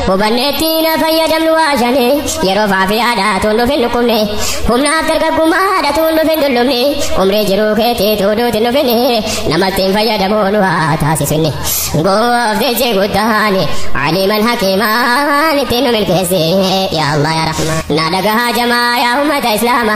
Hubanneetti na fayyadamnu waa shane yeroo faafi aadaa tuun dhufin dhukkubne humnaaf dargaggummaa haadha tuun dhufin dullumne umrii jiruu keetii tuuduuti dhufine namatti hin fayyadamuu nu haa taasisne gooftichi guddaan aliman hakimaan ittiin nu milkeesse yaa Allah yaa Rahmaan na dhagahaa jamaa yaa ummata islaama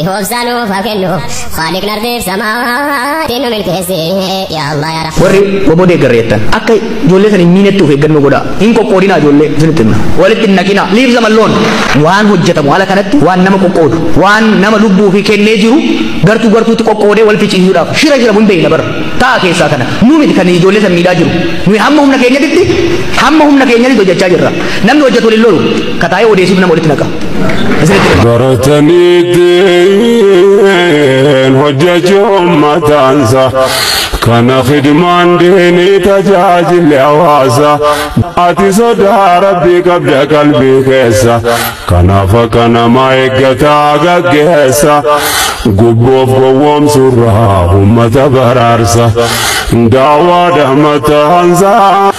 Ihoobsaa nuuf haa kennu Khaaliqni ardiif samaatiin nu milkeessi yaa Allah yaa Rahmaan. warri waboo deeggarre jettan akka ijoollee san hin miinetti of eeggannoo godhaa hin qoqqoodinaa ijoollee isinitti himna walitti hin naqinaa liif zaman loon waan hojjetamu ala kanatti waan nama qoqqoodu waan nama lubbuu fi kennee jiru gartuu gartuutti qoqqoodee wal ficiisuudhaaf shira shira hin beekna bara ta'a keessaa kana nu miti kan ijoollee san miidhaa jiru nuyi hamma humna keenyatitti hamma humna keenyatitti hojjechaa jirra namni hojjetu waliin lolu kataa'ee odeessuuf nama walitti naqa baratanii diin hojjecha ummataansa kana khidmaan diinii tajaajilli hawaasa ati sodaa rabbii qabda qalbii keessa kanaaf akka namaa eeggataa gaggeessa gubboof gowwoomsurraa ummata baraarsa daawwaadha mataansa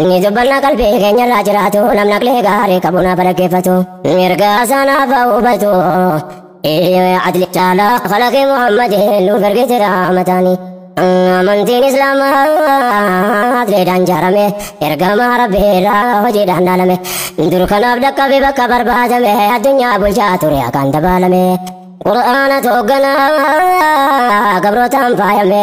Inni dubbannaa qalbii keenyarraa jiraatu namni aqlee gaarii qabu naaf dhaggeeffatu. Mirga sanaa ba'u hubatu. Iyyoo adli caalaa kalaqee Muhammadiin nuuf ergite raamataani. Amantiin Islaamaa adleedhaan jaarame ergamaa rabbiirraa hojiidhaan dhaalame. Dur kanaaf dhaqqabe bakka barbaadame addunyaa bulchaa ture akkaan dabaalame. Qur'aana toogganaa gabrootaan faayame